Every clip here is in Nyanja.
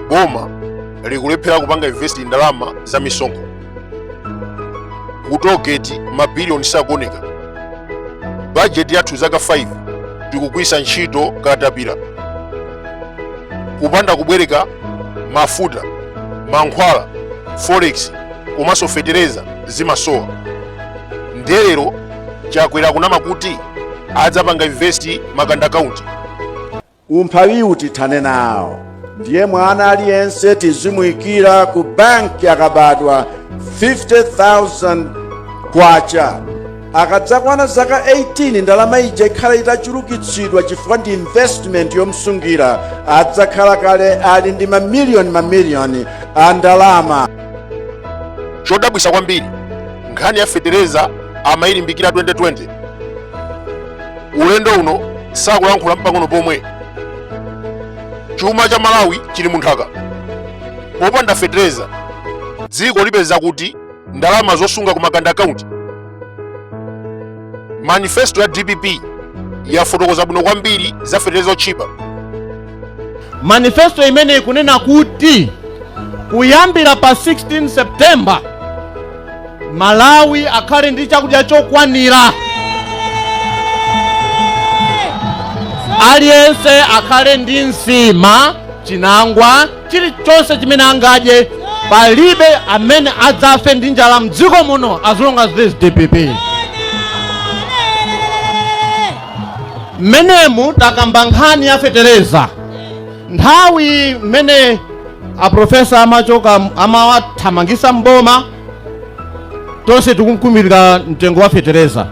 boma likulephera kupanga invest ndalama za misonkho ku toll gate mabiliyoni sakuoneka bajeti yathu zaka 5 tikugwisa ntchito katapira kupanda kubwereka mafuta mankhwala forex komanso fetereza zimasowa nde lero Chakwera akunama kuti adzapanga invest makanda account. Umphawiwu tithane nawo ndiye mwana aliyense tizimuyikira ku banki akabadwa 50,000 kwacha akadzakwana zaka 18 ndalama ija ikhala itachulukitsidwa chifukwa ndi investment yomsungira adzakhala kale ali ndi mamiliyoni mamiliyoni a ndalama chodabwisa kwambiri nkhani ya fetereza amayilimbikira 2020 ulendo uno sakulankhula mpang'ono pomwe chuma cha malawi chili munthaka popanda fetereza dziko lipeza kuti ndalama zosunga ku makanda akaunti manifesto ya dpp yafotokoza bwino kwambiri za feteleza otchipa manifesto imene ikunena kuti kuyambira pa 16 september malawi akhale ndi chakudya chokwanira aliyense akhale ndi nsima chinangwa chilichonse chimene angadye palibe amene adzafe ndi njala mdziko muno as long as there's dpp mmenemu takamba nkhani ya fetereza nthawi mmene aprofesa amachoka amawathamangisa mboma tonse tikukumbukira mtengo wa fetereza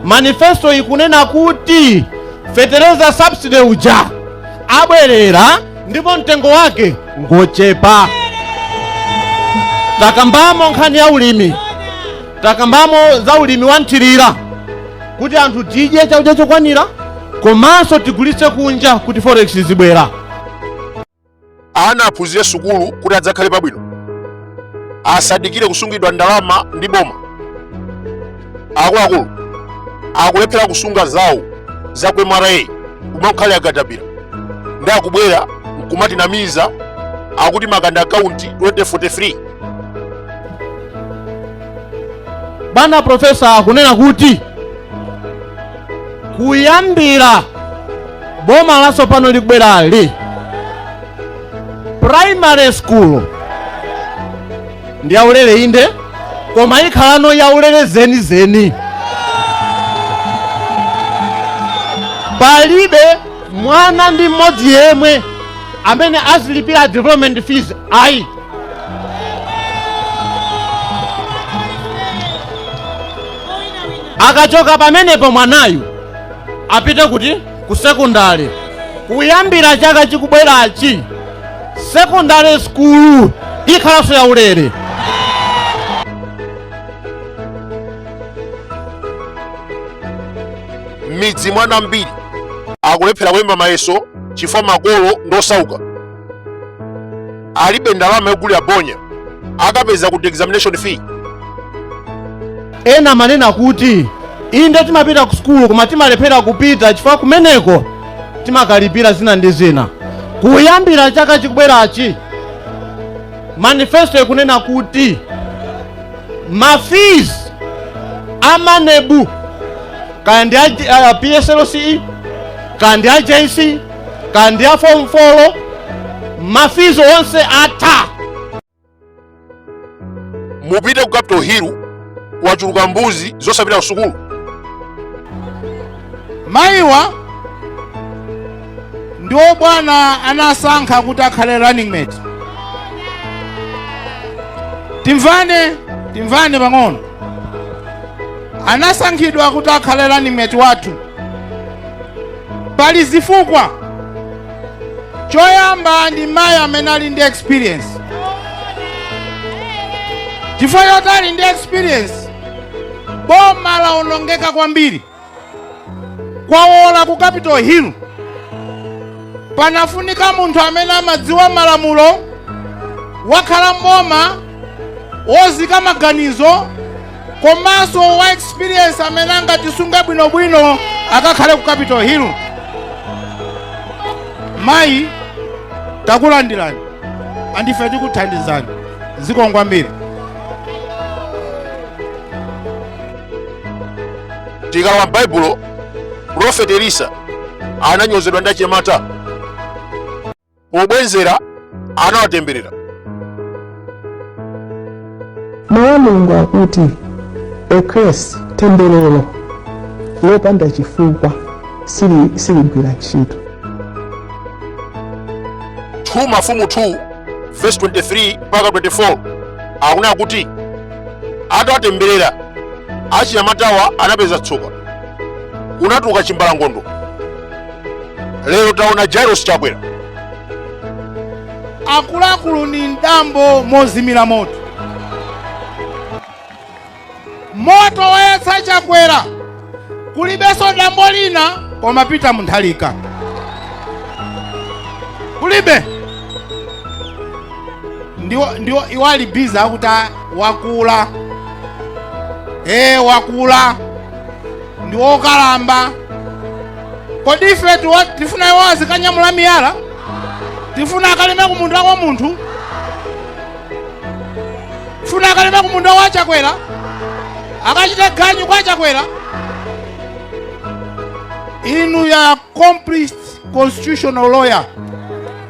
manifesto ikunena kuti fetereza subsidy uja abwerera ndipo mtengo wake ngochepa takambamo nkhani ya ulimi takambamo za ulimi wa nthirira kuti anthu tidye chakudya chokwanira komanso tigulitse kunja kuti forex izibwera ana aphunzire sukulu kuti adzakhale pabwino asadikire kusungidwa ndalama ndi boma akuluakulu akulephera kusunga zawo za ku mra kumakhalira katapira nde akubwera nkumatinamiza akuti makanda akaunti 2043 bwana profesa akunena kuti kuyambira boma lasopano likubwerali primary school ndi yaulere inde koma ikhalano yaulere zenizeni palibe mwana ndi mmodzi yemwe amene azilipira development fees ayi akachoka pamenepo mwanayu apite kuti ku sekondari kuyambira chaka chikubwerachi sekondari skulu ikhalanso yaulere m'midzi mwana ambiri akulephera kulemba mayeso chifukwa makolo ndosauka alibe ndalama yogulira bonya akapeza kuti examination fee ena amanena kuti inde timapita ku sukulu koma timalephera kupita chifukwa kumeneko timakalipira zina ndi zina kuyambira chaka chikubwerachi manifesto ikunena kuti mafees a maneb kaya ndi a pslce kaya ndi a jc kaya ndi a form 4 mafizi onse atha mupite ku capital hill wachuluka mbuzi zosapita ku sukulu mayiwa ndiwo bwana anasankha kuti akhale running mate timvane timvane pang'ono anasankhidwa kuti akhale running mate wathu pali zifukwa choyamba ndi mayi amene ali ndi experience chifukwa choti ali ndi experience boma laonongeka kwambiri kwawola ku capital hill panafunika munthu amene amadziwa malamulo wakhala m'boma wozika maganizo komanso wa experience amene angatisunge bwinobwino akakhale ku capital hill mayi takulandirani andife tikuthandizani zikomo kwambiri tikalowa m'baibulo profeti elisa ananyozedwa ndi achinyamata pobwenzera anawatemberera mawu a mulungu akuti a kesi temberero lopanda chifukwa sili- siligwira ntchito 2 mafumu 2 verse 23 mpaka 24 akunena kuti atawatemberera achinyamatawa anapeza tsoka kunatuluka chimbalangondo lero taona lazarus chakwera akuluakulu ndi dambo mozimira moto moto woyatsa chakwera kulibenso dambo lina koma pita muthalika kulibe ndiwo ndiwo iwo ali bize akuti a- wakula ee wakula ndi wokalamba kodi ife tiwa- tifuna iwo azikanyamula miyala tifuna akalime ku munda wa munthu tifuna akalime ku munda wa achakwera akachite ganyu kwa achakwera inuyo accomplished constitutional lawyer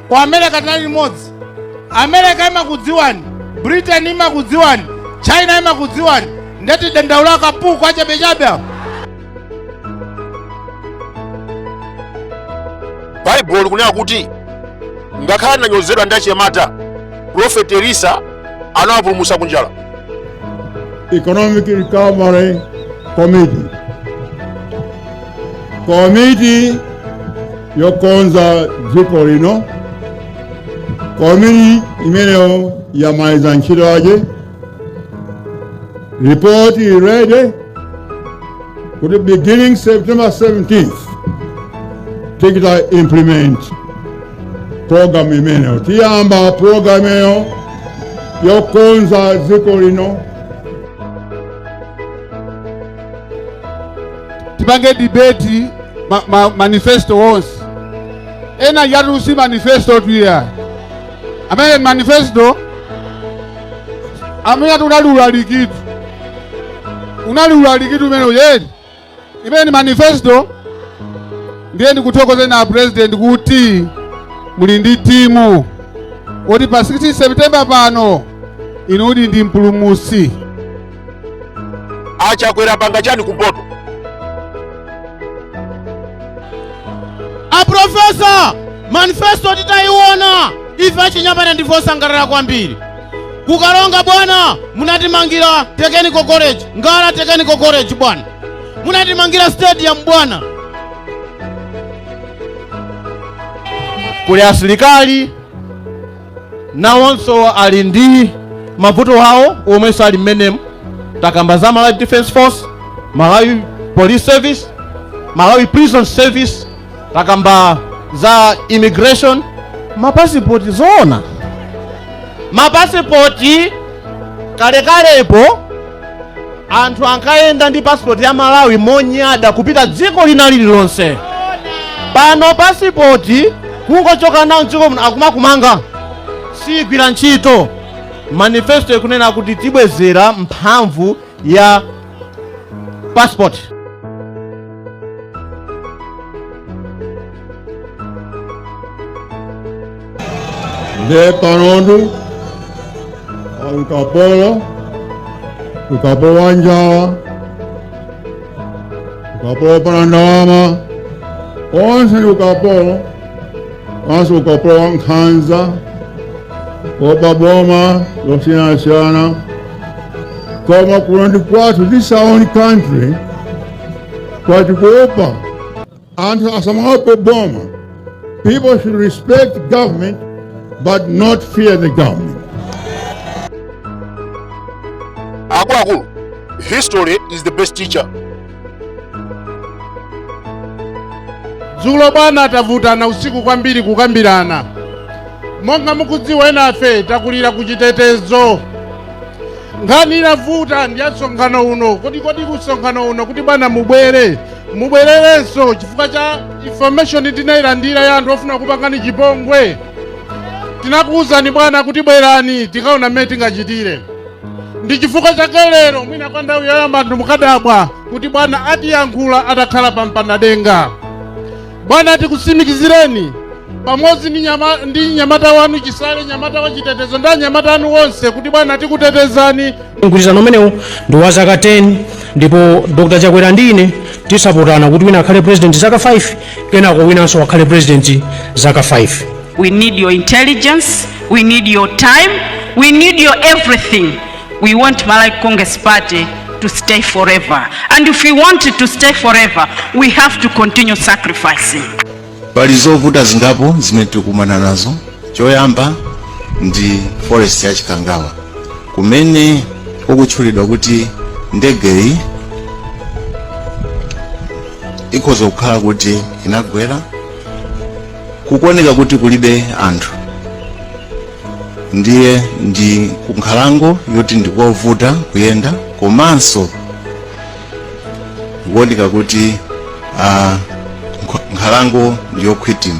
ku america tinali limodzi america imakudziwani britain imakudziwani china imakudziwani ndiye tidandaula kapuku kachabechabe apo baibulo likunena kuti ngakhale ananyozedwa ndi achinyamata profeti elisa anawapulumutsa kunjala Economic Recovery Committee. Committee yokonza dziko lino komiti imeneyo yamaliza ntchito yake ripoti ili ready kuti beginning september 17th tikita implement program imeneyo tiyamba program imeneyo yokonza dziko lino tipange debate ma, ma, manifesto onse enayatu si manifestotu aja amene manifesto amene atiwu unali ulalikitu unali ulalikitu umene weniweni imeneyi ndi manifesto ndiye ndikuthokozeni a president kuti muli ndi timu yoti pa 16 september pano inu ndinu mpulumutsi achakwera panga chani kumpoto aprofesa manifesto titayiona ife achinyamata ndife osangalala kwambiri kukalonga bwana munatimangira technical college ngala technical college bwana munatimangira stadium bwana kuli asilikali nawonso ali ndi mavuto awo omwenso ali mmenemu takamba za malawi defense force malawi police service malawi prison service takamba za immigration mapasipoti zoona mapasipoti kalekalepo anthu ankayenda ndi pasipoti ya malawi monyada kupita dziko lina lililonse pano pasipoti kungochoka nawo mdziko muno akumakumanga sigwira ntchito manifesto ikunena kuti tibwezera mphamvu ya pasipoti Nde panotu ukapolo, ukapolo wa njala, ukapolo wopanda ndalama, onse ndi ukapolo, onse ukapolo wa nkhanza, kuopa boma zosiyanasiyana, koma kuno ndi kwathu, this is our own country, kwathu kuopa anthu asamaope boma people should respect government but not fear the government akuluakulu history is the best teacher dzulo bwana tavutana usiku kwambiri kukambirana monga mukudziwa enafe takulira ku chitetezo nkhani inavuta ndi ya msonkhano uno kodi kodi ku msonkhano uno kuti bwana mubwere mubwererenso chifukwa cha information tinayilandira ya anthu ofuna kupangani chipongwe tinakuwuzani bwana kuti bwerani tikaona mmene tingachitire ndi chifukwa chake lero mwina kwa nthawi yoyamba anthu mukadabwa kuti bwana atiyankhula atakhala pa mpanadenga Bwana, tikutsimikizireni pamodzi ndi nyamata wanu Chisale, nyamata wa chitetezo ndi anyamata anu onse kuti bwana tikutetezani. Mgwirizano umenewu ndi wa zaka 10 ndipo Dr. Chakwera ndi ine tizapotana kuti wina akhale president zaka 5 kenako winanso akhale president zaka 5. We need your intelligence, we need your time, we need your everything. We want Malawi Congress Party to stay forever. And if we want it to stay forever, we have to continue sacrificing. Pali zovuta zingapo zimene tikumana nazo. Choyamba ndi forest ya Chikangawa kumene kukutchulidwa kuti ndegeyi ikhoza kukhala kuti inagwera kukuoneka kuti kulibe anthu ndiye ndi kunkhalango yoti ndikovuta kuyenda komanso ikuoneka kuti ah, nkh- nkhalango ndiyokhwitima